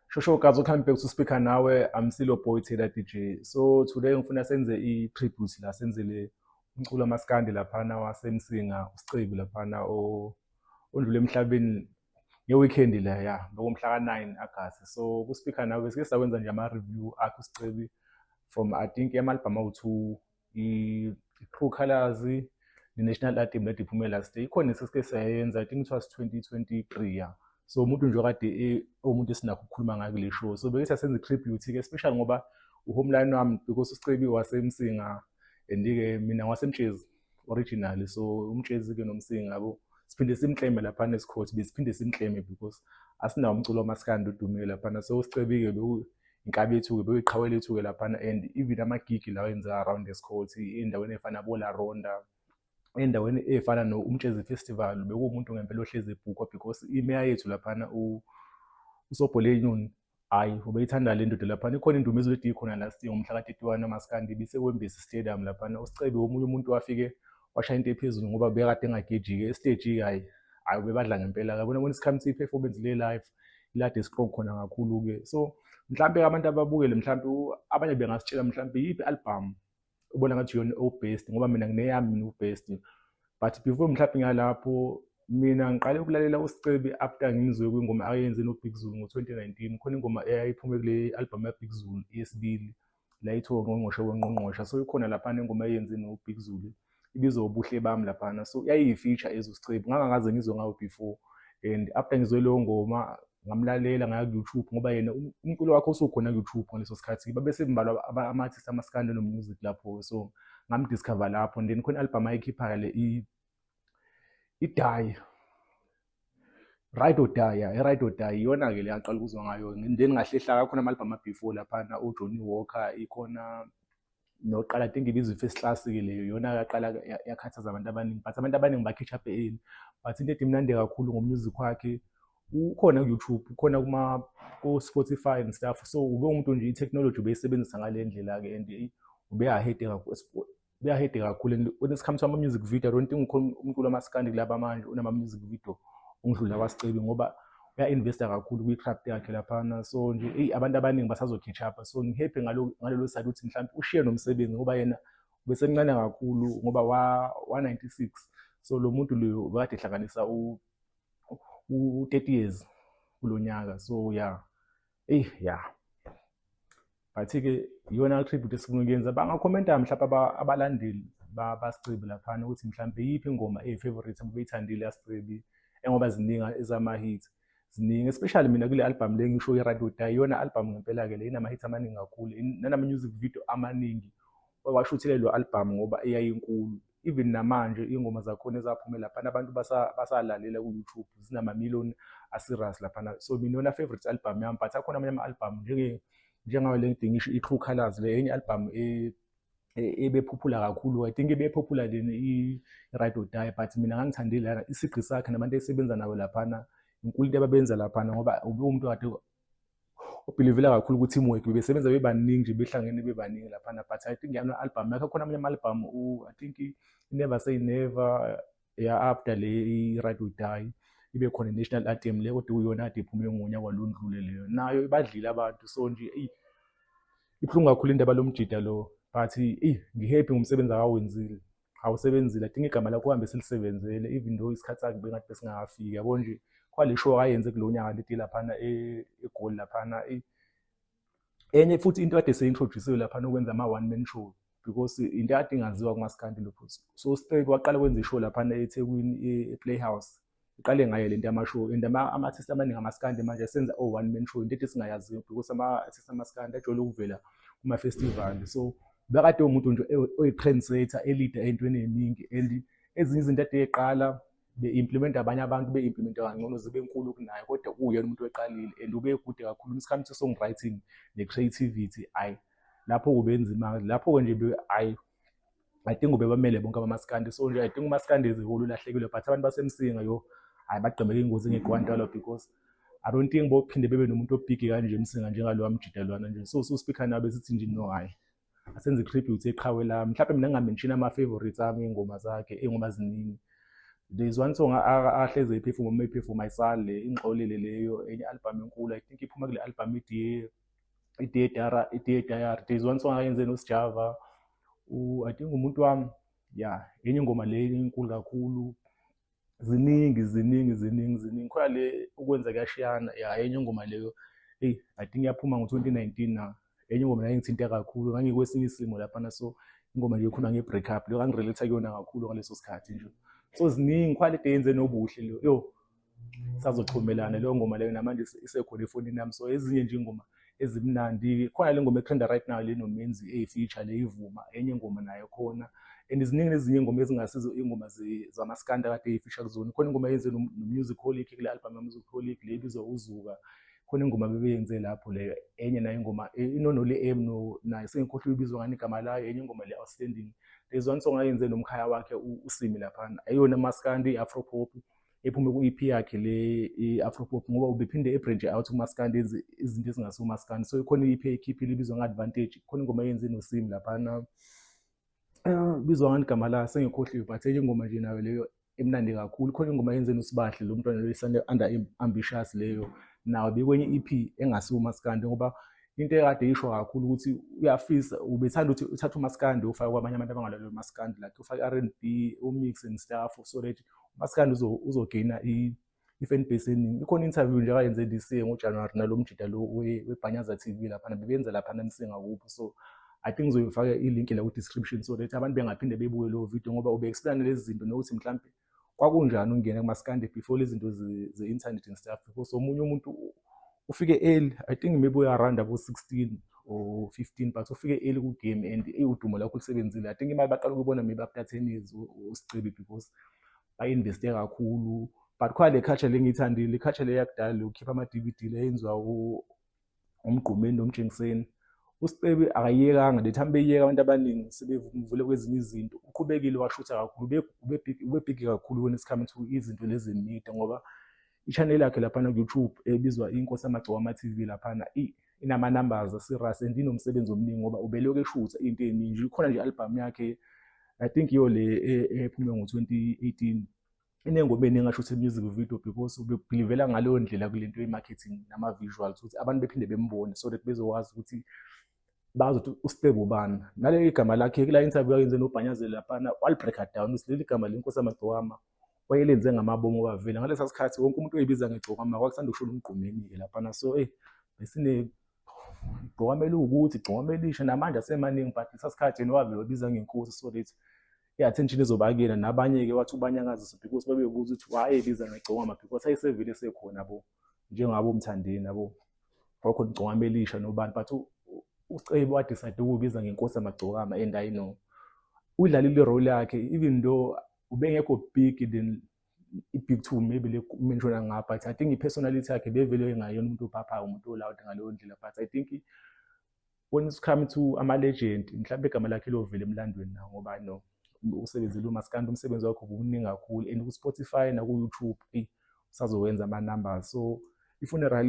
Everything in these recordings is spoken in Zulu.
shosho ugazi ukuhambe back to speaker nawe i'm still a boy taylor dj so today ngifuna senze i-tribute la senzele umculo amaskandi laphana wasemsinga usicebi laphana ondlule emhlabeni nge-weekend le ya ngokumhla ka-nine agasti so ku-speaker nawe sike sakwenza nje ama-review akhe usicebi from i think amalibhamu awu-two i-true colors ne-national anthem lade iphume last year ikhona esesike sayenza i think it was 2023 ya so umuntu nje kade e, umuntu esinakho ukukhuluma ngayo kule show so beke sasenza i-tribute-ke especially ngoba uhomeline wami because usicebi wasemsinga and-ke mina wasemtshezi originally so umtshezi-ke nomsinga yabo siphinde simkleme laphana esikhothi besiphinde simkleme because asinawo umculo wamaskandi odumile laphana so usicebi-ke inkabi yethu-ke beyiqhawe lethu-ke laphana and even amagigi lawa enzeka around the scot endaweni efana bola ronda endaweni efana no-umtshezi festival bekuwumuntu ngempela ohlezi ebhukwa because imeya yethu laphana usobholenyoni hhayi ubeyithanda le ndoda laphana ikhona indumizo ledi khona last year ngomhla ka-31 amaskandi ibisekwembisi stadium laphana usicebi womunye umuntu wafike washaya into ephezulu ngoba bekade engagejike esiteji-ke hhayi hhayi ubebadla ngempela-ke bona bona isikhamuthi i-performance le-life ilade strong khona kakhulu ke so mhlampe abantu ababukele mhlampe abanye bengasitshela mhlampe yiphi album ubona ngathi yona obest ngoba mina ngineyami mina ubest but before mhlampe ngalapho mina ngiqale ukulalela usicebi after ngimzwe kwingoma ayenze nobig zulu ngo-2019 khona ingoma eyayiphuma kule album yabig zulu eyesibili layithiwa ungqongqoshe wengqongqosha so ikhona laphana ingoma eyenze nobig zulu ibizwa ubuhle bami laphana so yayiyifeature ezo sicebu ngangakaze ngizwe ngayo before and after ngizwe leyo ngoma ngamlalela ngaya ku-youtube ngoba yena um, umculo wakhe usukhona ku-youtube ngaleso sikhathi babesebembalwa ama-artist amasikande nomusic lapho so ngamdiscover lapho and then khona i-album ayikhipha-ke le idayi right or die yeah right or die iyona ke leyaqala ukuzwa ngayo then ngahle hlaka khona ama album before laphana u Johnny Walker ikhona noqala think ibizwe first class ke leyo yona yaqala yakhathaza abantu abaningi but abantu abaningi ba catch up early but into edimnande kakhulu ngo music wakhe ukhona ku YouTube ukhona kuma ku Spotify and stuff so ube umuntu nje i technology ubeyisebenzisa ngalendlela ke and ube ahead kakhulu buyahede kakhulu and when it comes to ama-music video i don't think ukhona umculo amasikandi kulaba manje unama-music video ungidlula kwasicebi ngoba uya-investa kakhulu kwi-craft yakhe laphana so nje eyi abantu abaningi basazo-catch up so ngihappy ngalelo side ukuthi mhlawumbe ushiye nomsebenzi ngoba yena ubesemncane kakhulu ngoba wa-96 so lo muntu loyo bekade ehlanganisa u-30 years kulo nyaka so ya yeah. eyi ya but-ke iyona tribute esifuna ukuyenza bangakhomenta mhlawumbe abalandeli basicebi laphana ukuthi mhlawumbe iyiphi ingoma eyi-favorite abebeyithandile yasicebi engoba ziningi ezama-hit ziningi especially mina kule albhamu le ngisho i-radio die iyona albhamu ngempela-ke le inama-hit amaningi kakhulu nanama-music video amaningi washuthelelwa albhamu ngoba eyayinkulu even namanje iy'ngoma zakhona ezaphume laphana abantu basalalela ku-youtube zinamamillion aserious laphana so mina yona favorite album yami but akhona amanye ama-album njengayo le ngidinga isho i-true colors le enye album e-, e-, ebephuphula kakhulu i think ebephuphula lena i-right or die but mina ngangithandile lana isigqi sakhe nabantu esebenza nayo laphana inkulu into ababenza laphana ngoba ube umuntu kade ubhilivela kakhulu ukuthi imweki bebesebenza bebaningi nje behlangene bebaningi laphana but i think yama album yakhe khona amanye ama-album i think never say never ya after le i-right will die ibe khona i-national anthem le kodwa uyona ade iphume ngonya kwalondlule leyo nayo ibadlile abantu so nje eyi ibuhlungu kakhulu indaba lomjida lo but eyi ngihappy ngomsebenzi akawenzile awusebenzile adinga igama lakho uhambe silisebenzele even though isikhathi sakhe bengathi besingakafiki yabo nje kwale show ayenze kulo nyaka leti laphana e, egoli laphana e, enye futhi into kade seyintroduciwe laphana ukwenza ama-one man show because into kade ingaziwa kumasikandi lokho so straight waqala kwenza ishow laphana ethekwini e-playhouse iqale ngayo lento yamashow and ama artist abaningi amaskandi manje senza o one man show into ethi singayaziyo because ama artist amaskandi ajwayele ukuvela kuma festival so bekade umuntu nje oyi trendsetter elida entweni eningi and ezinye izinto ade eqala be implement abanye abantu be implement kangcono zibe nkulu kunaye kodwa kuyena umuntu oqalile and ube kude kakhulu isikhathi se songwriting ne creativity ay lapho kubenzima lapho nje ay i think ubebamele bonke abamaskandi so nje i think umaskandi izihulu ulahlekile but abantu basemsinga yo hayi bagqemeke ingozi ngekwantalo because i don't think bophinde bebe nomuntu obhigi kanje emsinga njengalowa mjidelwana nje so so speaker nabe sithi nje no hayi asenze tribute eqhawe lami mhlawumbe mina ngamention ama favorites ami ingoma zakhe ingoma ziningi there's one song ahleze iphefuma uma iphefuma isale ingxolile leyo enye album enkulu i think iphuma kule album idiye i-DAR i-DAR there's one song ayenze noSjava u I think umuntu wami yeah enye ingoma le enkulu kakhulu ziningi ziningi ziningi ziningi khona le ukwenza kuyashiyana yeah enye ingoma leyo hey I think yaphuma ngo-2019 na enye ingoma nayo ngithinte kakhulu ngangikwesinye isimo laphana so ingoma nje ikhuluma nge-break up leyo ngangirelate kuyona kakhulu ngaleso sikhathi nje so ziningi khona le yenze nobuhle leyo yo sazochumelana leyo ngoma leyo namanje isekhona efonini yami so ezinye nje ingoma ezimnandi khona le ngoma etrenda right now leno menzi eyifeature le ivuma enye ingoma nayo khona and ziningi nezinye ingoma ezingasizo ingoma zamaskanda kade eyifisha kuzona khona ingoma yenze nomusic holic kule album yamusic holic le ibizwa uzuka khona ingoma bebeyenze lapho leyo enye nayo ingoma e, inonole m nayo sengikhohlwa ibizwa ngani igama layo enye ingoma le outstanding there's one song ayenze nomkhaya wakhe usimi laphana ayona maskandi i-afropop ephume ku-EP yakhe le i-afropop ngoba ubephinde ebranche out kumaskandi enze izinto ezingase kumaskandi so ikhona i-EP ekhiphile ibizwa nge-advantage khona ingoma eyenze nosim laphana ah, bizwa ngani igama la sengikhohliwe but enye ingoma nje nayo leyo emnandi kakhulu khona ingoma yenze nosibahle lo mntwana leyo isane under ambitious leyo nawo bekwenye i-EP engasiwo umaskandi ngoba into ekade isho kakhulu ukuthi uyafisa ubethanda ukuthi uthathe umaskandi ufake kwabanye abantu abangalaleli umaskandi like ufake i-r and b umix and stuff so that masikandi uzogina i-fan base eningi ikhona interview nje akayenze this year ngojanuwari nalo mjida lo webhanyaza t v laphana bebenza laphana msingakupho so i think ngizoyifaka ilink la ku-description so that abantu bengaphinde bebuke leyo video ngoba ube-explain lezi zinto nokuthi mhlawumbe kwakunjani ungena kumaskandi before lezi zinto ze-internet and stuff because omunye umuntu ufike early i think maybe uyaround abo 16 or 15 but ufike early ku game and udumo lakho lusebenzile i think imali baqala ukubona maybe after 10 years usicebi because ba investe kakhulu but khona le culture lengiyithandile le culture le yakudala lokukhipha ama DVD leyenziwa umgqumeni nomjengiseni usicebi akayekanga the time beyeka abantu abaningi sebevule kwezinye izinto uqhubekile washutha kakhulu ube big ube big kakhulu when it's coming to izinto lezi media ngoba i-channel yakhe laphana ku-youtube ebizwa inkosi yamagcokama tv laphana inama-numbers asirus and inomsebenzi omningi ngoba ubelokhu eshutha into eningi nje ikhona nje i-albhamu yakhe i think iyo le e, ephume ngo-2018 inengoma eningi asho ukuthi i-music video because ubebhilivela ngaleyo ndlela kule nto ye-marketing nama-visuals ukuthi abantu bephinde bembone so that bezokwazi ukuthi bazi ukuthi ustebe ubani naleli gama lakhe kula interview ayenze nobhanyazeli laphana walibreaker down ukuthi leli gama lenkosi amagcowama wayelenze ngamabomu obavile ngalesa sikhathi wonke umuntu oyibiza ngegcokama kwakusanda ukushola umgqumeni-ke laphana so eyi besine igcokama eliwukuthi igcokama elisha namanje asemaningi but lesa sikhathi yena wavele wabiza ngenkosi so that i-attention izobakela nabanye-ke wathi ubanyakazisa because babebuza ukuthi wayebiza ngegcokama because ayesevele sekhona bo njengabo mthandeni abo kwakhona igcokama elisha nobani but ucebo wadecide ukubiza ngenkosi yamagcokama and i know udlalile irole yakhe even though ubengekho big then i-big two maybe le menshona ngapha but i think i-personality yakhe bevele engayona umuntu ophaphayo umuntu olawud ngaleyo ndlela but i think when it's come to ama-legend mhlawumbe igama lakhe lovela emlandweni na ngoba no usebenzile umaskandi umsebenzi wakho bukuningi kakhulu and ku-spotify naku-youtube eyi usazowenza ama numbers so i-funeral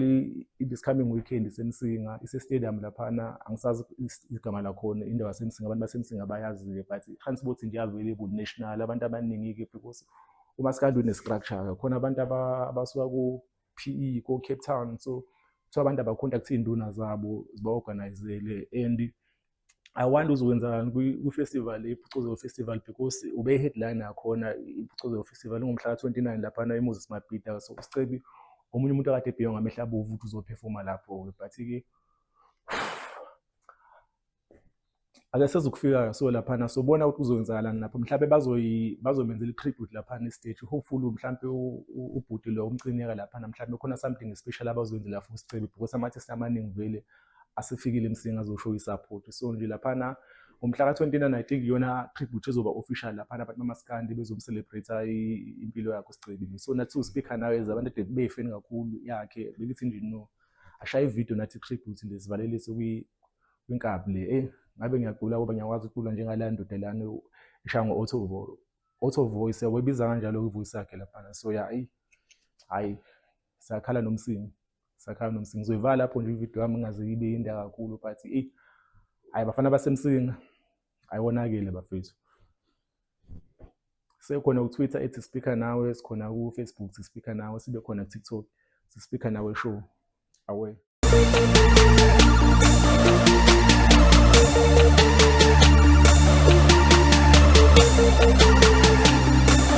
this coming weekend isemsinga ise-stadium laphana angisazi igama lakhona indawo yasemsinga abantu basemsinga bayazi-ke but i-transport nje available national abantu abaningi-ke because uma sikade une-structure khona abantu abasuka ku-p e ko-cape town so kuthiwa abantu abakhontakthe iy'nduna zabo ziba-organizele and I wonder uzokwenzakalani kwi-festival iphucuzo festival because ube i-headline yakhona iphucuzo festival ingomhla ka-29 laphana emoses mabhida so sicebi omunye umuntu akade ebhiywa ngamehla abovu ukuthi uzophefoma lapho-ke but-ke ake sezokufika so laphana sobona ukuthi kuzoyenzakalani lapho mhlawumbe bazomenzela i-tribute laphana estage hopefully mhlawumbe ubhuti lo umcinyeka laphana mhlawumbe khona something special abazoyenzela for sicebi because ama-artist amaningi vele like, asifikile msinga zosho isaphothi so nje laphana ngomhla ka-29 i think iyona tribute ezoba official laphana abantu bamaskandi bezomcelebrate impilo yakho sigcebile so nathi siwuspeaker nawe as abantu ade beyifeni kakhulu yakhe belithi nje no ashaye ividiyo nathi tribute nje sivalelise kwinkabi le eyi ngabe ngiyagula ngoba ngiyakwazi ukucula njengala ndoda lana ishaya ngo-auto auto voice yawebiza kanjalo kwivoice yakhe laphana so ya ayi hhayi sakhala nomsini sakhaya nomsi ngizoyivala lapho nje ivideo yami ingaze ibe yinde kakhulu but eyi hhayi bafana basemsinga hhayi wonakele bafethu sekhona kutwitter ethi speaker nawe sikhona kufacebook thi speaker nawe sibe khona kutiktok thi speaker nawe show awe Thank you.